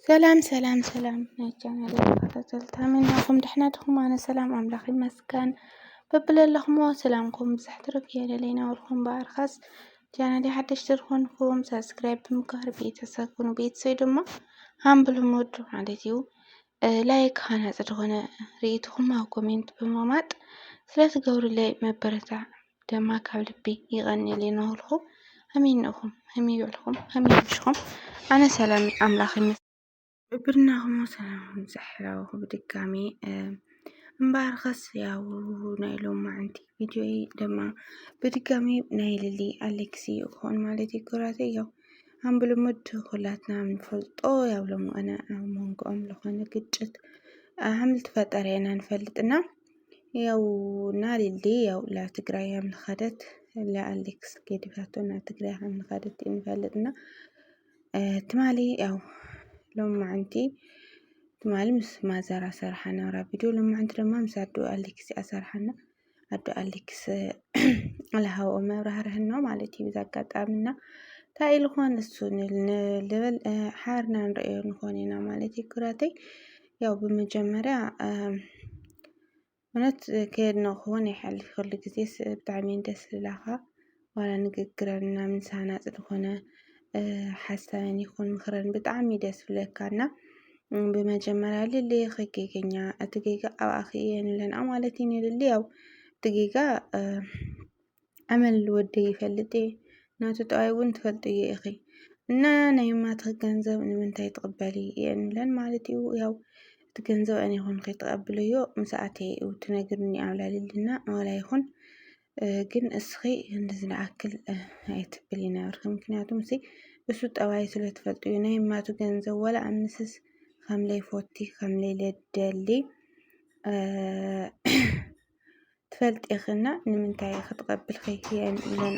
ሰላም ሰላም ሰላም ናይ ቻናል ተኸታተልቲ ከመይ ናኹም ደሕና ድኹም? ኣነ ሰላም ኣምላኽ ይመስገን። በብለለኹሞ ሰላምኩም ብዝሕ ትርፍ የለለይ ናብርኩም በኣርካስ ቻናል ሓደሽቲ ዝኾንኩም ሳብስክራይብ ብምግባር ቤተሰብ ኩኑ። ቤተሰብ ድማ ሃምብል ሞድ ማለት እዩ። ላይክ ሃናፂ ዝኾነ ሪኢቱኹም ኣብ ኮሜንት ብምቕማጥ ስለትገብሩለይ መበረታዕ ደማ ካብ ልቢ ይቐንየለይ እናበልኹ ሃመይ እንእኹም ሃመይ ውዕልኹም ሃመይ ምሽኹም ኣነ ሰላም ኣምላኽ ይመ ብርናኹም ሰላምኩም ዘሕላወኹ ብድጋሚ እምበኣርከስ ያው ናይ ሎማዓንቲ ቪድዮይ ደማ ብድጋሚ ናይ ልሊ ኣሌክሲ ይኾን ማለት ይኩራተይ ያው ከም ብልሙድ ኩላትና ንፈልጦ ኣብ ሎሚ እዋን ኣብ መንጎኦም ዝኾነ ግጭት ከም ዝተፈጠረ ኢና ንፈልጥ እና ያው እና ሊሊ ያው ናብ ትግራይ ከም ዝኸደት ኣሌክስ ገዲፋቶ ናብ ትግራይ ከም ዝኸደት ኢና ንፈልጥ እና ትማሊ ያው ሎማዕንቲ ትማሊ ምስ ማዘር ኣሰርሓ ናብራ ቪድዮ ሎማዕንቲ ድማ ምስ ኣዶ ኣሌክስ እያ ኣሰርሓና። ኣዶ ኣሌክስ ኣለሃው መብራህርህን ነው ማለት እዩ ብዛ ኣጋጣሚ እና እንታይ ኢልኾን እሱ ልብል ሓርና ንርእዮ ንኾን ኢና ማለት እዩ ኩራተይ ያው ብመጀመርያ እውነት ከየድነኹውን ይሓልፍ ኩሉ ግዜ ብጣዕሚ ደስ ዝብላኻ ዋላ ንግግረና ምስ ሃናጺ ዝኾነ ሓሳበን ይኹን ምኽረን ብጣዕሚ ደስ ዝብለካ እና ብመጀመርያ ልልየ ከጌገኛ እቲ ጌጋ ኣብኣኺ እየ ንብለንኣ ማለት እዩ ንልሊ ያው እቲ ጌጋ ኣመል ወደይ ይፈልጥ እየ ናቱ ጠባይ እውን ትፈልጥዮ ኢኺ እና ናይ እማትኺ ገንዘብ ንምንታይ ትቕበሊ እየ ንብለን ማለት እዩ ያው እቲ ገንዘብ ኣነ ይኹን ከይተቐብለዮ ምስ ኣተየ እዩ ትነግርኒ ኣብላ ልልና ዋላ ይኹን ግን እስኺ እንደዚ ዝኣክል ኣይትብል ይነበርኪ ምክንያቱም ሲ እሱ ጠባይ ስለ ትፈልጡ እዩ ናይ ማቱ ገንዘብ ወላ ኣምስስ ከምለይ ፎቲ ከምለይ ለደሊ ትፈልጥ ኢኺና ንምንታይ ክትቐብልኺ የን ኢለና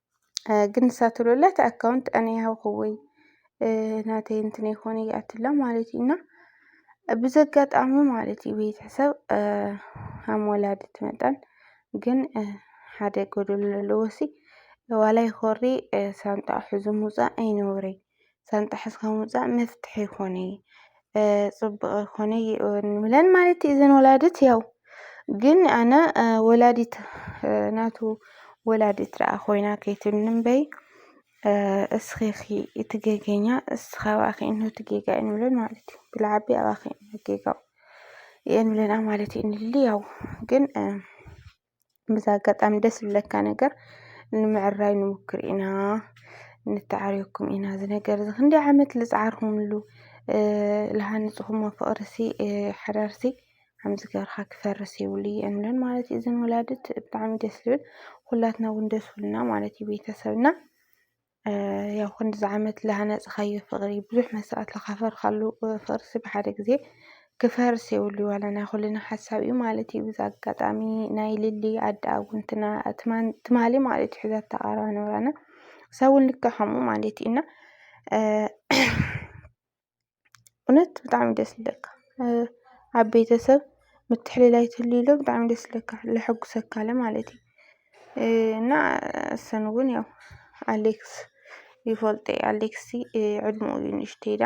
ግን ንሳትሎላ እቲ ኣካውንት ኣነ ይሃብክዎይ ናተይ እንትን ይኮነ ይኣትላ ማለት እዩ እና ብዘጋጣሚ ማለት እዩ ቤተሰብ ሃም ወላድት መጠን ግን ሓደ ጎደሎ ኣለዎሲ ዋላ ይኮሪ ሳንጣ ሑዙ ምውፃእ ኣይነውረይ ሳንጣ ሕዝካ ምውፃእ መፍትሒ ይኮነ ፅቡቅ ይኮነ ንብለን ማለት እዩ እዘን ወላድት ያው ግን ኣነ ወላዲት ናቱ ወላዲት ደኣ ኮይና ከይትብኒ እምበይ እስኺኺ እቲ ጌገኛ እስኻ ኣባኺ እንሆ እቲ ጌጋ እዩ ንብለን ማለት እዩ ብልዓቢ ኣባኺ እንሆ ጌጋው የንብለና ማለት እዩ ንልሊ ያው ግን ብዚ ኣጋጣሚ ደስ ዝብለካ ነገር ንምዕራይ ንሙክር ኢና ንተዓረየኩም ኢና እዚ ነገር እዚ ክንደይ ዓመት ልፀዓርኩምሉ ልሃንፅኩሞ ፍቅሪሲ ሓዳርሲ ከምዚ ገይርካ ክፈርስ የብሉን እለን ማለት እዩ እዘን ወላድት ብጣዕሚ ደስ ዝብል ኩላትና እውን ደስ ኢሉና ማለት እዩ ቤተሰብና። ያው ክንድዚ ዓመት ዝሃነፅኻዮ ፍቕሪ ብዙሕ መስዋእቲ ዝኸፈልካሉ ፍቕሪሲ ብሓደ ግዘ ክፈርስ የብሉን ዋላ ናይ ኩልና ሓሳብ እዩ ማለት እዩ። በዚ ኣጋጣሚ ናይ ሊሊ ኣደ ኣብ ጎንና ትማሊ ማለት እዩ ሒዛቶ ቀረባ ንብረና ንሳ እውን ልክዕ ከምኡ ማለት እዩ እና እውነት ብጣዕሚ እዩ ደስ ዝብለካ ኣብ ቤተሰብ ምትሕልላይ ተልዩሎ ብጣዕሚ ደስ ዝብለካ ለሐጉሰካ ለማለት እዩ። እና እሰን እውን ያው ኣሌክስ ይፈልጦ እዩ ኣሌክስ ዕድሚኡ እዩ ንእሽተይ ኢላ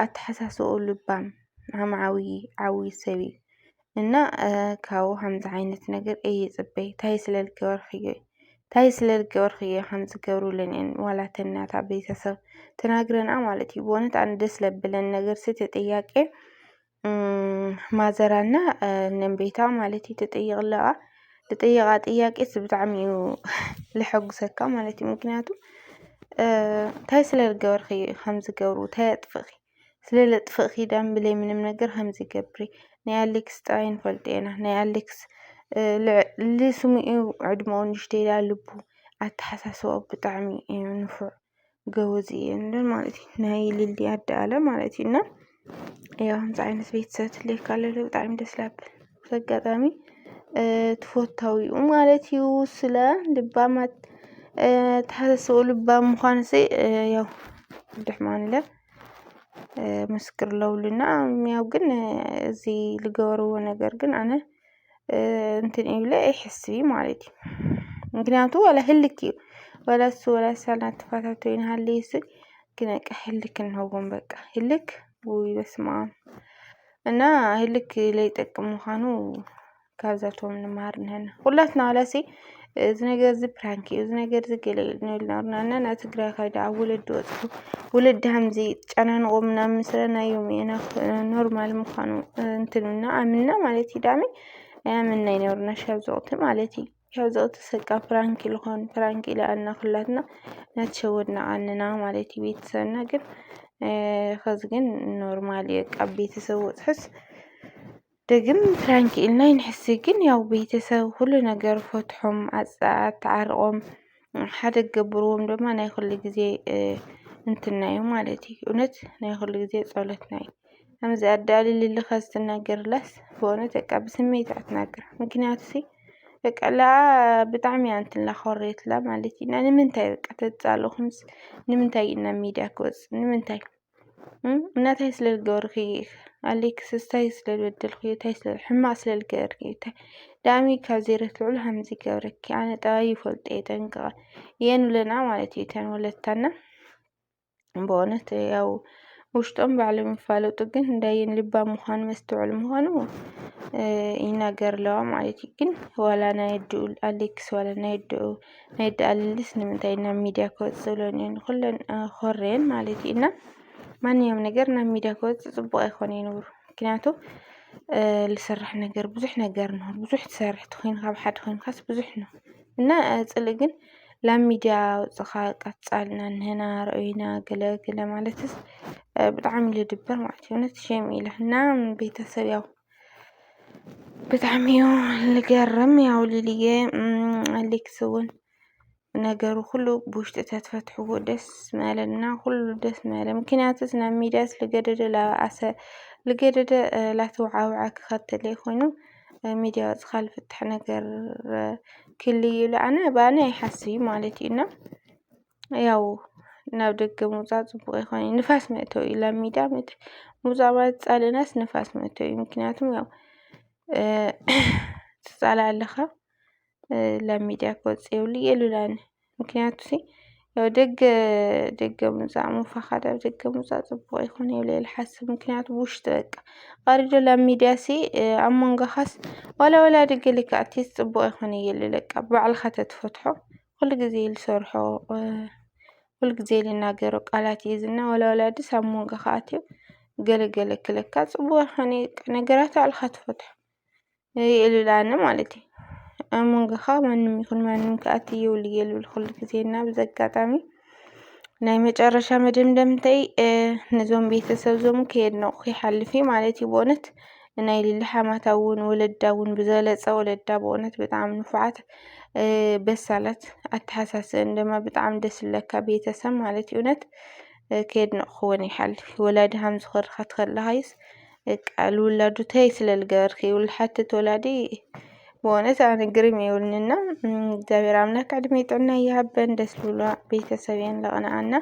ኣተሓሳስብኡ ልባም ዓማዓዊ ዓብይ ሰብ እዩ። እና ካብኡ ከምዚ ዓይነት ነገር እይጽበይ ታይ ስለ ልገበርክዮ ታይ ስለ ልገበርክዮ ከም ዝገብሩለኒ እየን ዋላ እተን ናታ ቤተሰብ ትነግረና ማለት እዩ ብእውነት ኣነ ደስ ለብለን ነገር እቲ ጥያቄ ማዘር እና ነንቤታ ማለት እዩ ትጥይቕ ኣለዋ ልጥይቓ ጥያቄ ስ ብጣዕሚ እዩ ልሐጉሰካ ማለት እዩ ምክንያቱ ታይ ስለ ልገበርክዮ እዩ ከም ዝገብሩ ታይ ኣጥፍእኺ ስለ ለጥፍእ ኪዳን ብለይ ምንም ነገር ከምዚ ገብሪ ናይ ኣሌክስ ጥራይ ንፈልጦ ኢና ናይ ኣሌክስ ልዕሊ ስሙ እዩ ዕድመኡ ንእሽተይ ኢላ ልቡ ኣተሓሳስባኡ ብጣዕሚ እዩ ንፉዕ ገበዝ እዩ እንደ ማለት እዩ ናይ ልሊ ኣደ ኣለ ማለት እዩ እና ያው ከምዚ ዓይነት ቤተሰብ ትልየካ ለለ ብጣዕሚ ደስ ላብል በጋጣሚ ትፈታዊኡ ማለት እዩ ስለ ልባማት ተሓሰስኡ ልባም ምዃን ሲ ያው ድሕማንለ ምስክር ለውልና ያው ግን እዚ ልገበርዎ ነገር ግን ኣነ እንትን ይብለ ኣይሕስቢ ማለት እዩ ምክንያቱ ወላ ህልክ እዩ ወላ እሱ ወላ ሳላ ተፋታቶ ይንሃለ ይስል ግን በቃ ህልክ እንኸውን በቃ ህልክ ውይ በስማም እና ህልክ ለይጠቅም ምዃኑ ካብዛቶም ንመሃር ንህና ዂላትና ዋላሲ እዚ ነገር እዚ ፕራንክ እዩ፣ እዚ ነገር እዚ ገለ እዩ ንብል ነበርና እና ናብ ትግራይ ከይደ ኣብ ወለዲ ወጽኩ ወለዲ ሃምዚ ጨናንቖ ምናምን ስለ ናይ ዮም ኢና ኖርማል ምዃኑ እንትንና ኣምና ማለት እዩ ዳኒ ኣያምናይ ነበርና ሻብ ዝወቕቲ ማለት እዩ። ያው ዘቕጥሰቃ ፕራንክ ልኾን ፕራንክ ኢለ ኣና ኽላትና ናትሸወድና ኣንና ማለት ቤተሰብና ግን ኸዚ ግን ኖርማል እየ ቃብ ቤተሰብ ወፅሕስ ደግም ፕራንክ ኢልና ይንሕሲ ግን ያው ቤተሰብ ኩሉ ነገር ፈትሖም ኣፀኣት ተዓርቖም ሓደ ገብርዎም ድማ ናይ ኹሉ ጊዜ እንትናዩ ማለት እዩ እውነት ናይ ኹሉ ጊዜ ጸሎትና እዩ ከምዚ ኣዳልልሊ ከዝ ትነግርለስ ብእውነት በቃ ብስሚት እያ ትነግር ምክንያቱ እሲ በቃ ለኣ ብጣዕሚ እያ እንትን ኢላ ኮርየትላ ማለት እዩ እና ንምንታይ በቃ ተፃልእኹምስ ንምንታይ እዩ ናብ ሚድያ ክወፅእ ንምንታይ እና ታይ ስለ ዝገበርኺ ኣሌክስ እንታይ ስለ ዝበደልክዮ ታይ ስለ ሕማቅ ስለ ዝገበርክዮ ታይ ዳኣሚ ካብ ዘይረት ልዑል ሃምዚ ይገብረኪ ኣነ ጠባይ ይፈልጦ እየ ጠንቅቀ እየን ብለና ማለት እዩ እተን ወለድታና በእውነት ያው ውሽጦም ባዕሎም ይፋለጡ ግን እንዳየን ልባ ምዃኑ መስተውዕል ምዃኑ ይናገር ኣለዋ ማለት እዩ ግን ዋላ ናይ ኣድኡ ኣሌክስ ዋላ ናይ ኣድኡ ናይ ኣደ ኣልልስ ንምንታይ ናብ ሚድያ ክወፅ ዝብለን እየን ኩለን ኮረየን ማለት እዩ እና ማንኛውም ነገር ናብ ሚድያ ክወፅ ፅቡቅ ኣይኮነ ይነብሩ ምክንያቱ ዝስራሕ ነገር ብዙሕ ነገር ነው ብዙሕ ትሰርሕ ትኮይንካ ኣብ ሓደ ኮይንካስ ብዙሕ ነው እና ጽልኢ ግን ላብ ሚድያ ኣውጽኻ ቀጻልና ንሕና ርኣዩና ገለ ገለ ማለትስ ብጣዕሚ እዩ ልድብር ማለት እዩ እውነት ሼም እዩ ኢልና ቤተሰብ ያው ብጣዕሚ እዩ ልገርም ያው ሊሊየ ኣሌክስ እውን ነገሩ ኩሉ ብውሽጢ ተትፈትሕዎ ደስ ምበለና ኩሉ ደስ ምበለ ምክንያቱስ ናብ ሚድያስ ልገደደ ላበኣሰ ልገደደ ላተውዓውዐ ክኸተለ ኮይኑ ሚድያ ወፂእኻ ዝፍታሕ ነገር ክህሉ እዩ ኢለ ኣነ ብኣነ ይሓስብ ማለት እዩ እና ያው ናብ ደገ ምውፃእ ፅቡቅ ኣይኮነን እዩ ንፋስ መእተዊ እዩ ናብ ሚድያ መእተዊ ምውፃእ ማለት ተፃሊእናስ ንፋስ መእተዊ እዩ ምክንያቱ ያው ትፃላእ ኣለኻ ላብ ሚድያ ክወጽእ የብሉ የሉላን ምክንያቱ ያው ደገ ደገ ምውጻእ ምፋኻድ ኣብ ደገ ምውጻእ ጽቡቕ ኣይኮነ ኢለ እየ ልሓስብ ምክንያቱ ብውሽጢ በቃ ቃሪዶ ላብ ሚድያሲ ኣብ መንጎኻስ ዋላ ዋላ ደገ ልክዕቲስ ጽቡቕ ኣይኮነ እየ ልብል በቃ ብባዕልኻ ተትፈትሖ ኩሉ ግዜ ልሰርሖ ኩሉ ግዜ ልናገሮ ቃላት እዩ ዝና ዋላ ዋላ ድስ ኣብ መንጎኻ ኣትዩ ገለ ገለ ክለካ ጽቡቕ ኣይኮነ እዩ በቃ ነገራት ባዕልኻ ትፈትሖ። የእሉላኒ ማለት እዩ። ኣብ መንጎኻ ማንም ይኹን ማንም ክኣቲ ይውል የልብል ኩሉ ግዜ እና በዚ ኣጋጣሚ ናይ መጨረሻ መደምደምተይ ነዞም ቤተሰብ ዞም ከየድነቑ ይሓልፍ እዩ ማለት እዩ ብእውነት ናይ ሊሊ ሓማታ እውን ወለዳ እውን ብዘለፀ ወለዳ ብእውነት ብጣዕሚ ንፉዓት በሳላት ኣተሓሳስበን ድማ ብጣዕሚ ደስ ዝብለካ ቤተሰብ ማለት እዩ እውነት ከየድነቕኹወን ይሓልፍ ወላዲ ሃምዚ ኸርኸት ከለኻዩስ በቃ ልውላዱ ተይ ስለ ልገበርኪ ልሓትት ወላዲ ብእውነት ኣነ ግርም ይብልንና እግዚኣብሔር ኣምላክ ዕድሜ ጥዕና ይሃበን። ደስ ብሎ ቤተሰብ የን ለቕንኣና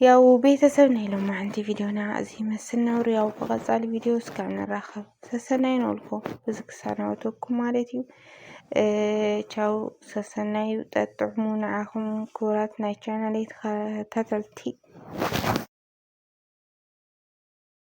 ያው ቤተሰብ ናይ ሎማዓንቲ ቪዲዮና እዚ ይመስል ነብሩ። ያው ብቐፃሊ ቪዲዮ እስካብ ንራኸብ ሰሰናይ ነልኩ እዚ ክሳናወተኩም ማለት እዩ። ቻው ሰሰናዩ ጠጥዕሙ ንዓኹም ክቡራት ናይ ቻናለይ ተኸታተልቲ